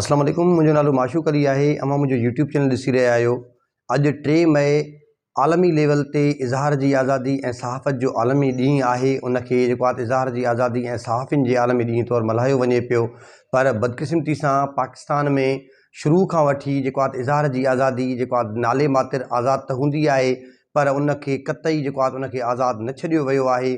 اسلام عليڪم منهنجو نالو معشوق علي آهي اوهان منهنجو يوٽيوب چينل ڏسي رهيا آهيو اڄ ٽي مئي عالمي ليول تي اظهار جي آزادي ۽ صحافت جو عالمي ڏينهن آهي ان کي جيڪو آت اظهار جي آزادي ۽ صحافين جي عالمي ڏينهن طور ملهايو وڃي پيو پر بدقسمتي سان پاڪستان ۾ شروع کان وٺي جيڪو آت اظهار جي آزادي جيڪو آت نالي ماتر آزاد ته هوندي آهي پر ان کي قطعي جيڪو آت ان کي آزاد نه ڇڏيو ويو آهي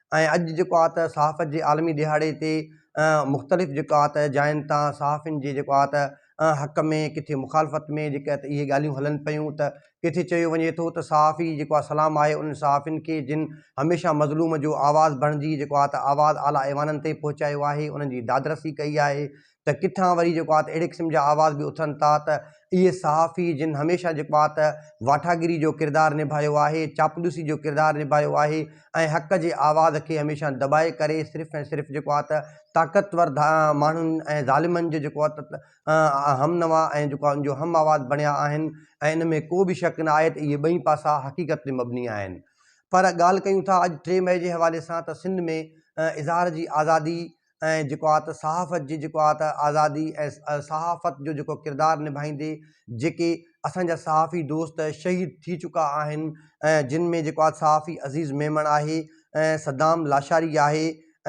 ۽ اڄ جيڪو آ ته صحافت جي عالمي ڏهاڙي تي مختلف جيڪو آ ته جاين تان صحافين جي جيڪو آ ته حق ۾ ڪٿي مخالفت ۾ جيڪي ته اهي ڳالهيون هلن پيون ته ڪٿي چيو وڃي ٿو ته صحافي جيڪو آ سلام آهي انهن صحافين کي جن هميشه مظلوم جو آواز بڻجي جيڪو آ ته آواز اعليٰ ايوانن تائين پهچايو آهي انهن جي دادرسي ڪئي آهي ته ڪٿان وري جيڪو آهي ته اهڙي قسم جا آواز به اٿن ٿا ته اهي صحافي جن هميشه جيڪو آهي ته واٽاگيري جو ڪردار نڀايو آهي، چاپلوسي جو ڪردار نڀايو آهي ۽ حق جي آواز کي هميشه دٻائي ڪري صرف ۽ صرف جيڪو آهي ته طاقتور ماڻهن ۽ ظالمن جي جيڪو آهي ته همنوا ۽ جيڪو آهي ان جو هم آواز بڻيا آهن ۽ ان ۾ ڪو به شڪ نه آهي ته اهي ٻئي پاسا حقيقت تي مبني آهن. پر ڳالهه ڪيون ٿا اڄ ٽي مئي جي حوالي سان ته سنڌ ۾ اظهار جي آزادي ۽ جيڪو آت صحافت جي جيڪو آت آزادي ۽ صحافت جو جيڪو ڪردار نڀائيندي جيڪي اسان جا صحافي دوست شهيد ٿي چڪا آهن ۽ جن ۾ جيڪو آت صحافي عزيز ميمڻ آهي ۽ صدام لاشاري آهي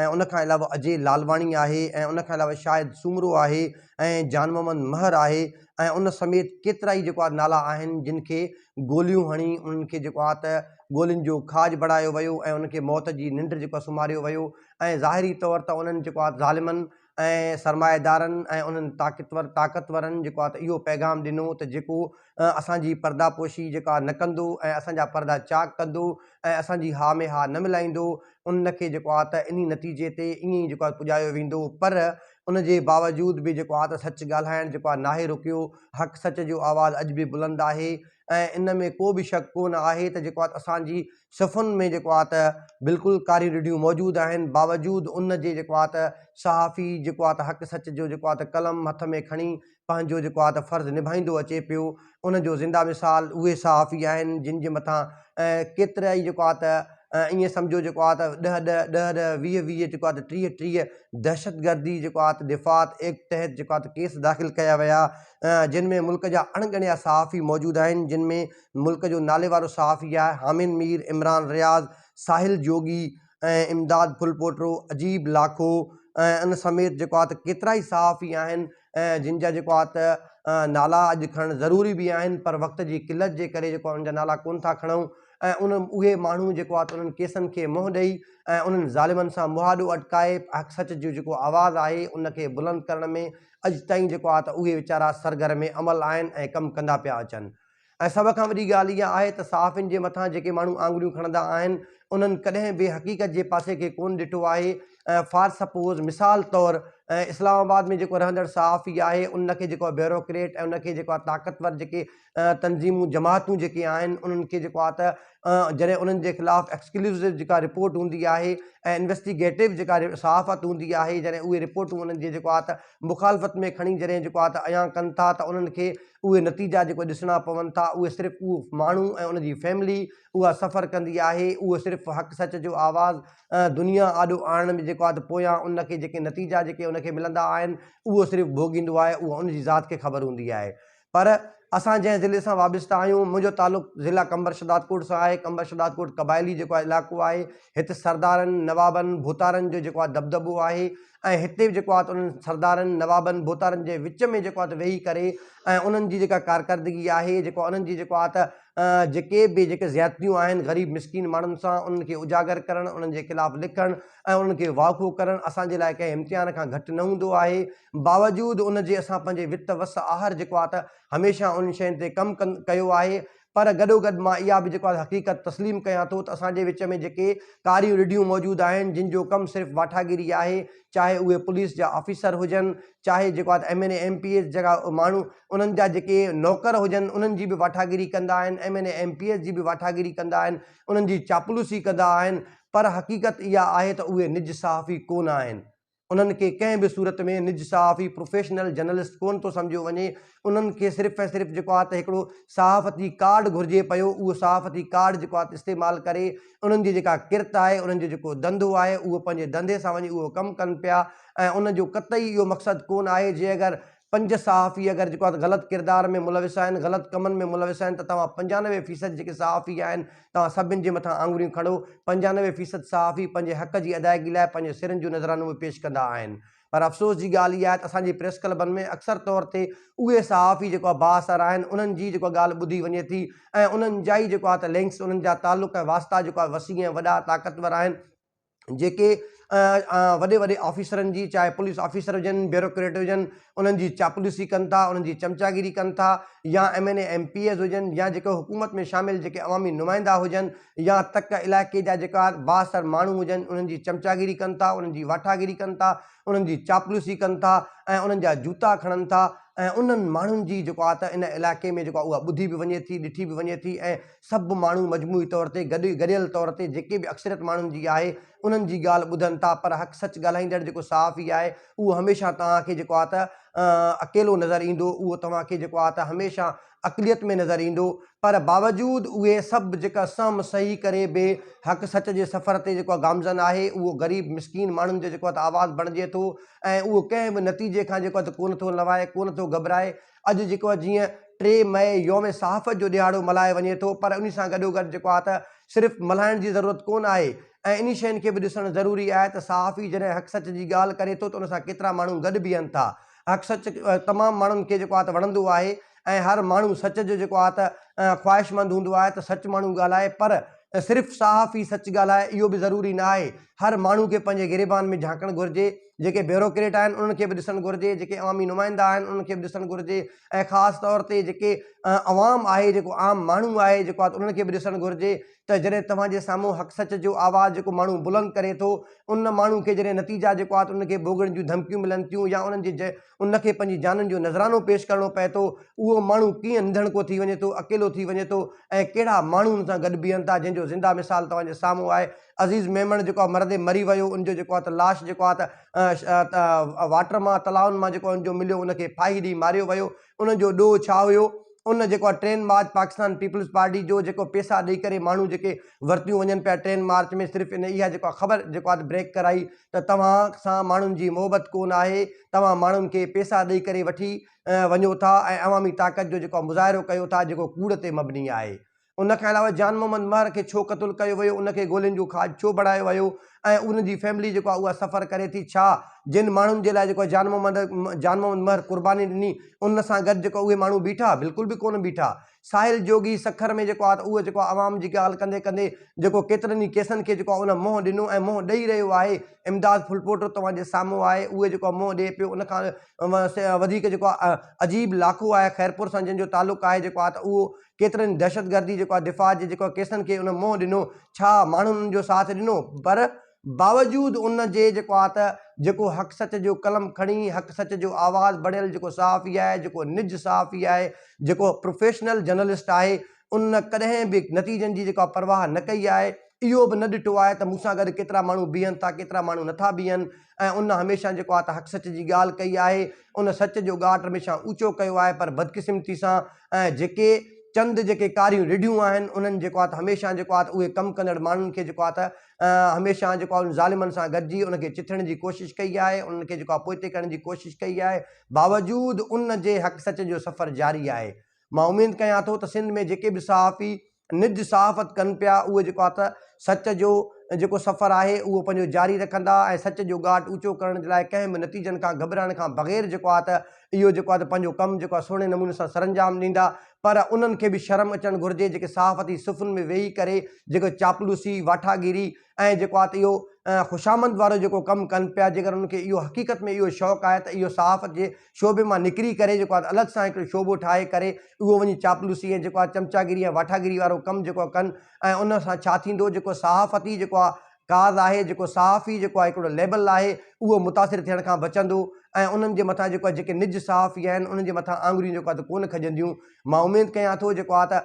۽ ان کان علاوه اجي لالواڻي آهي ۽ ان کان علاوه شاهد سومرو آهي ۽ جان محمد مهر آهي ۽ ان سميت ڪيترا ئي جيڪو آت نالا آهن جن کي گوليون هڻي انهن کي جيڪو آت گولين جو کاڄ بڻايو ويو ۽ ان کي موت جي ننڊ جيڪو آت سمهاريو ويو ۽ ظاهري طور ته انهن جيڪو آت ظالمن ۽ سرمائيدارن ۽ انهن طاقتور طاقتورن جيڪو آت اهو پيغام ڏنو ته جيڪو اسان جي پرده پوشي جيڪو آ نه ڪندو ۽ اسان جا پرده چاڪ ڪندو ۽ اسان جي ها ۾ ها نه ملائيندو ان کي جيڪو آت انهي نتيجي تي ائين ئي جيڪو آت پڄايو ويندو پر ان جي باوجود به جيڪو آت سچ ڳالهائڻ جيڪو آ ناهي رڪيو حق سچ جو آواز اڄ به بلند آهي ۽ ان ۾ ڪو به شڪ ڪو نه آهي ته جيڪو آت اسان جي صفحن ۾ جيڪو آهي ته بلڪل ڪاريون رڍيون موجود آهن باوجود ان جي جيڪو آهي ته صحافي جيڪو آهي ته حق سچ جو جيڪو آهي ته قلم هٿ ۾ کڻي پنهنجو جيڪو آهي ته فرض نڀائيندو اچي پيو ان جو زنده مثال اهي صحافي آهن جن جي مٿان ڪيترا ئي جيڪو آهي ته ائين سمجهو جيڪو آهي ته ڏهه ڏهه ڏهه ڏهه ويهه ويهه جيڪو آهي ته ٽيهه ٽيهه دهشتگردي جيڪو آهي ته دفاعت ايڪٽ تحت جيڪو آهي ته ڪيس داخل ڪيا ويا جن ۾ ملڪ جا اڻ ڳڻيا صحافي موجود آهن جن ۾ ملڪ جو ناليوارو صحافي آهي. حامد مير، عمران رياض، ساحل جوڳي ۽ امداد ڦلپوٽو، عجيب لاکو ۽ ان سميت جيڪو آهي ته ڪيترائي صحافي آهن جن جا جيڪو آهي ته نالا اڄ کڻڻ ضروري به آهن پر وقت جي قلت جي ڪري جيڪو آهي ان جا نالا ڪونه ٿا کڻون ۽ ان اهي ماڻهو جيڪو آهي ته انهن ڪيسن کي منهن ڏئي ۽ انهن ظالمن سان مهاڏو اٽڪائي حق سچ جو جيڪو آواز آهي ان کي بلند ڪرڻ ۾ اڄ تائين جيڪو آهي ته اهي ويچارا سرگرم عمل آهن ۽ ڪم ڪندا پيا اچن. ۽ سڀ کان وڏي ڳالهه اها آهي ته صحافين جي مٿان جيڪي ماڻهو آڱريون کڻندا آهن انهن ڪڏهن به حقيقت جي پاسي کي ڪونه ڏٺو آهي ۽ فار سپوز مثال طور اسلام آباد ۾ جيڪو رهندڙ صحافي آهي ان کي جيڪو بيوروڪريٽ ۽ ان کي جيڪو آهي طاقتور جيڪي تنظيمون جماعتون جيڪي آهن انهن کي جيڪو آهي ته جڏهن انهن جي خلاف ايڪسڪلوسو جيڪا رپورٽ هوندي آهي ۽ انويسٽيگيٽو جيڪا صحافت هوندي آهي جڏهن اهي رپورٽون انهن جي جيڪو آهي ته مخالفت ۾ کڻي جڏهن جيڪو آهي ته ايان ڪن ٿا ته انهن کي اهي نتيجا جيڪي ڏسڻا پون ٿا اهي صرف اهو ماڻهو ۽ ان جي فيملي اها سفر ڪندي آهي اهو صرف حق سچ جو آواز دنيا آڏو آڻڻ ۾ جيڪو آهي ته پويان ان کي جيڪي نتيجا جيڪي ان کي ملندا آهن اهو صرف ڀوڳيندو آهي اها ان جي ذات کي خبر هوندي آهي پر اسان جنهن ضلعي سان وابسته آهيون منهنجو تعلق ضلع قمبر شهدادڪوٽ سان آهي قمبر شهدادڪوٽ قبائلي جيڪو آهي علائقو آهي هت سردارن نوابن ڀوتارن جو جيڪو آهي دٻدٻو آهي ۽ هتي به جيڪو آهي ته انهن سردارن، نوابن، ڀوتارن جي وچ ۾ جيڪو آهي ته ويهي ڪري ۽ انهن جي جيڪا ڪارڪردگي آهي، جيڪو انهن جي جيڪو آهي ته جيڪي به جيڪي زيادتيون آهن غريب مسڪين ماڻهن سان انهن کي اجاگر ڪرڻ، انهن جي خلاف لکڻ ۽ انهن کي واکو ڪرڻ اسان جي لاء ڪنهن امتحان کان گهٽ نه هوندو آهي. باوجود ان جي اسان پنهنجي وت وس آهر جيڪو آهي ته هميشه انهن شين تي ڪم ڪيو آهي پر گڏوگڏ مان اها به جيڪو آهي حقيقت تسليم ڪيان ٿو ته اسان جي وچ ۾ جيڪي ڪاريون رڍيون موجود آهن جن جو ڪم صرف واٺاگيري آهي چاهي اهي پوليس جا آفيسر هجن چاهي جيڪو آهي MNA MPs جهڙا ماڻهو انهن جا جيڪي نوڪر هجن انهن جي به واٺاگيري ڪندا آهن MNA MPs جي به واٺاگيري ڪندا آهن انهن جي چاپلوسي ڪندا آهن پر حقيقت اها آهي ته اهي نج صحافي ڪونه آهن. انهن کي ڪنهن به صورت ۾ نج صحافي، پروفيشنل جرنلسٽ، ڪونه ٿو سمجهيو وڃي، انهن کي صرف ۽ صرف جيڪو آهي ته هڪڙو صحافتي ڪارڊ گهرجي پيو، اهو صحافتي ڪارڊ جيڪو آهي ته استعمال ڪري، انهن جي جيڪا ڪرت آهي، انهن جو جيڪو ڌنڌو آهي، اهو پنهنجي ڌنڌي سان وڃي اهو ڪم ڪن پيا ۽ ان جو قطعي اهو مقصد ڪونه آهي جي اگر پنج صحافي اگر جيڪو آهي ته غلط ڪردار ۾ ملوث آهن، غلط ڪمن ۾ ملوث آهن ته توهان پنجانوي فيصد جيڪي صحافي آهن توهان سڀن جي مٿان آڱريون کڻو، پنجانوي فيصد صحافي پنهنجي حق جي ادائيگي لاء پنهنجي سرن جون نذرانون به پيش ڪندا آهن پر افسوس جي ڳالهه اها آهي ته اسان جي پريس ڪلبن ۾ اڪثر طور تي اهي صحافي جيڪو آهي بااثر آهن انهن جي جيڪو آهي ڳالهه ٻڌي وڃي ٿي ۽ انهن جا ئي جيڪو آهي ته لنڪس انهن جا تعلق ۽ واسطا جيڪو آهي وسيع ۽ وڏا طاقتور آهن جيڪي وڏي وڏي آفيسرن جي چاهي پوليس آفيسر هجن بيوروڪريٽ هجن انهن جي چاپلوسي ڪن ٿا انهن جي چمچاگيري ڪن ٿا يا MNA MPAs هجن يا جيڪي حڪومت ۾ شامل جيڪي عوامي نمائندا هجن يا تڪ علائقي جا جيڪا بااثر ماڻهو هجن انهن جي چمچاگيري ڪن ٿا انهن جي واٺاگيري ڪن ٿا انهن جي چاپلوسي ڪن ٿا ۽ انهن جا جوتا کڻن ٿا ۽ انهن ماڻهن جي جيڪو آهي ته ان علائقي ۾ جيڪو اها ٻڌي به وڃي ٿي ڏٺي به وڃي ٿي ۽ سڀ ماڻهو مجموعي طور تي گڏ گڏيل طور تي جيڪي به اڪثريت ماڻهن جي آهي انهن جي ڳالهه ٻڌن ٿا پر حق سچ ڳالهائيندڙ جيڪو صحافي آهي اهو هميشه توهان کي جيڪو آهي ته اڪيلو نظر ايندو اهو توهان کي جيڪو آهي ته هميشه اقليت ۾ نظر ايندو پر باوجود اهي سڀ جيڪا سهم سهي ڪري به حق سچ جي سفر تي جيڪو گامزن آهي اهو غريب مسڪين ماڻهن جو جيڪو آهي ته آواز بڻجي ٿو ۽ اهو ڪنهن به نتيجي کان جيڪو آهي ته ڪونه ٿو لوائي ڪونه ٿو گهٻرائي اڄ جيڪو آ جيئن ٽي مئي يوم صحافت جو ڏهاڙو ملهايو وڃي ٿو پر انهي سان گڏوگڏ جيڪو آ ته صرف ملهائڻ جي ضرورت ڪونه آهي ۽ انهي شين کي به ڏسڻ ضروري آهي ته صحافي جڏهن حق سچ جي ڳالهه ڪري ٿو ته ان سان ڪيترا ماڻهو گڏ بيهن ٿا حق سچ تمام ماڻهن کي جيڪو آ ته وڻندو آهي ۽ هر ماڻهو سچ جو جيڪو آ ته خواهشمند هوندو آهي ته سچ ماڻهو ڳالهائي پر صرف صحافي سچ ڳالهائي اهو به ضروري نه آهي هر ماڻهو کي پنهنجي گريبان ۾ جهانڪڻ گهرجي. جيڪي بيوروڪريٽ آهن انهن کي به ڏسڻ گهرجي، جيڪي عوامي نمائندا آهن انهن کي به ڏسڻ گهرجي ۽ خاص طور تي جيڪي عوام آهي جيڪو عام ماڻهو آهي جيڪو آهي انهن کي به ڏسڻ گهرجي ته جڏهن توهان جي سامهون حق سچ جو آواز جيڪو ماڻهو بلند ڪري ٿو ان ماڻهو کي جڏهن نتيجا جيڪو آهي انهن کي ڀوڳڻ جون ڌمڪيون ملن ٿيون يا انهن جي ان کي پنهنجي جانن جو نذرانو پيش ڪرڻو پئي ٿو، اهو ماڻهو ڪيئن انڌڻڪو ٿي وڃي ٿو، اڪيلو ٿي وڃي ٿو ۽ ڪهڙا ماڻهو ان سان گڏ بيهن ٿا جنهن جو زنده مثال توهان جي سامهون آهي. عزيز ميمڻ جيڪو آهي مرندي مري ويو، ان جو جيڪو آهي ته لاش جيڪو آهي ته واٽر مان تلائن مان جيڪو ان جو مليو ان کي ڦاهي ڏئي ماريو ويو، ان جو ڏوهه ڇا هيو؟ ان جيڪو آ ٽرين مارچ پاڪستان پيپلز پارٽي جو جيڪو پيسا ڏئي ڪري ماڻهو جيڪي ورتيون وڃن پيا ٽرين مارچ ۾ صرف ان اها جيڪو آ خبر جيڪو آ بريڪ ڪرائي ته توهان سان ماڻهن جي محبت ڪون آهي توهان ماڻهن کي پيسا ڏئي ڪري وٺي وڃو ٿا ۽ عوامي طاقت جو جيڪو آ مظاهرو ڪيو ٿا جيڪو ڪوڙ تي مبني آهي ان کان علاوه جان محمد مهر کي ڇو قتل ڪيو ويو، ان کي گولين جو کاڄ ڇو بڻايو ويو ۽ ان جي فيملي جيڪو آهي اها سفر ڪري ٿي ڇا جن ماڻهن جي لاء جيڪو جان محمد جان محمد مهر قرباني ڏني ان سان گڏ جيڪو اهي ماڻهو بيٺا بلڪل به ڪونه بيٺا ساحل جوڳي سکر ۾ جيڪو آهي اهو جيڪو عوام جي ڳالهه ڪندي ڪندي جيڪو ڪيترن ئي ڪيسن کي جيڪو ان منهن ڏنو ۽ منهن ڏئي رهيو آهي امداد ڦلپوٽو توهان جي سامهون آهي اهو جيڪو منهن ڏئي پيو ان کان وڌيڪ جيڪو عجيب لاکو آهي خيرپور سان جن جو تعلق آهي جيڪو آهي ته اهو ڪيترن دهشتگردي جيڪو آهي دفاع جي جيڪو ڪيسن کي ان منهن ڏنو ڇا ماڻهن ان جو ساٿ ڏنو پر باوجود ان جي جيڪو آهي ته جيڪو حق سچ جو قلم کڻي حق سچ جو آواز بڻيل جيڪو صحافي آهي جيڪو نج صحافي آهي جيڪو پروفيشنل جرنلسٽ آهي ان ڪڏهن به نتيجن جي جيڪو آهي پرواهه نه ڪئي آهي اهو به نه ڏٺو آهي ته مون سان گڏ ڪيترا ماڻهو بيهن ٿا ڪيترا ماڻهو نٿا بيهن ۽ ان هميشه جيڪو آهي ته حق سچ جي ڳالهه ڪئي آهي ان سچ جو ڳاٽ هميشه اوچو ڪيو آهي پر بدقسمتي سان ۽ جيڪي چند جيڪي ڪاريون رڍيون آهن انهن جيڪو آهي ته هميشه جيڪو آهي ته اهي ڪم ڪندڙ ماڻهن کي جيڪو آهي ته هميشه جيڪو آهي ظالمن سان گڏجي ان کي چٿڻ جي ڪوشش ڪئي آهي انهن کي جيڪو آهي پوئتي ڪرڻ جي ڪوشش ڪئي آهي باوجود ان جي حق سچ جو سفر جاري آهي مان اميد ڪيان ٿو ته سنڌ ۾ جيڪي به صحافي نج صحافت ڪن پيا اهو جيڪو آ ته سچ جو جيڪو سفر آهي اهو پنهنجو جاري رکندا ۽ سچ جو ڳاٽ اوچو ڪرڻ جي لاء ڪنهن به نتيجن کان گهٻرائڻ کان بغير جيڪو آ ته اهو جيڪو آ ته پنهنجو ڪم جيڪو آ سهڻي نموني سان سرانجام ڏيندا پر انهن کي به شرم اچڻ گهرجي جيڪي صحافتي صفن ۾ ويهي ڪري جيڪو چاپلوسي واٺاگيري ۽ جيڪو آ ته اهو خوشامند وارو جيڪو ڪم ڪن پيا جيڪر انهن کي اهو حقيقت ۾ اهو شوق آهي ته اهو صحافت جي شعبي مان نڪري ڪري جيڪو آ الڳ سان هڪڙو شعبو ٺاهي ڪري اهو وڃي چاپلوسي ۽ جيڪو آ چمچاگيري ۽ واٺاگيري وارو ڪم جيڪو آ ڪن ۽ ان سان ڇا ٿيندو جيڪو صحافت ئي جيڪو آ ڪاز آهي جيڪو صحافي جيڪو آ هڪڙو ليبل آهي اهو متاثر ٿيڻ کان بچندو ۽ انهن جي مٿان جيڪو آ جيڪي نج صحافي آهن انهن جي مٿان آڱريون جيڪو آ ته ڪونه کڄنديون. مان اميد ڪيان ٿو جيڪو آ ته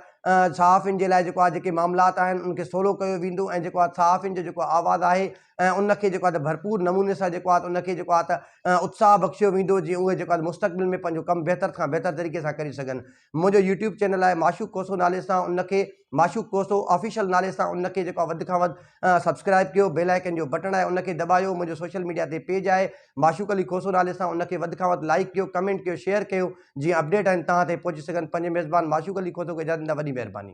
صحافين جي لاء جيڪو آ جيڪي معاملات آهن ان کي سولو ڪيو ويندو ۽ جيڪو آ صحافين جو جيڪو آواز آهي ان کي جيڪو آ ڀرپور نموني سان جيڪو آ ان کي جيڪو آ ته اتساهه بخشيو ويندو جي اهي جيڪو آ مستقبل ۾ پنهنجو ڪم بهتر کان بهتر طريقي سان ڪري سگهن منهنجو يوٽيوب چينل آهي معشوق ڪوسو نالي سان ان کي معشوق ڪوسو آفيشل نالي سان ان کي جيڪو آ وڌ کان وڌ سبسڪرائب ڪيو بيل آئيڪن جو بٽڻ آهي ان کي دٻايو منهنجو سوشل ميڊيا تي پيج آهي معشوق علي ڪوسو نالي سان ان کي وڌ کان وڌ لائڪ ڪيو ڪمينٽ ڪيو شيئر ڪيو جيئن اپڊيٽ آهن توهان تائين پهچي سگهن پنهنجي ميزبان معشوق علي کوسو کي اجازت ڏيندا وڏي مهرباني.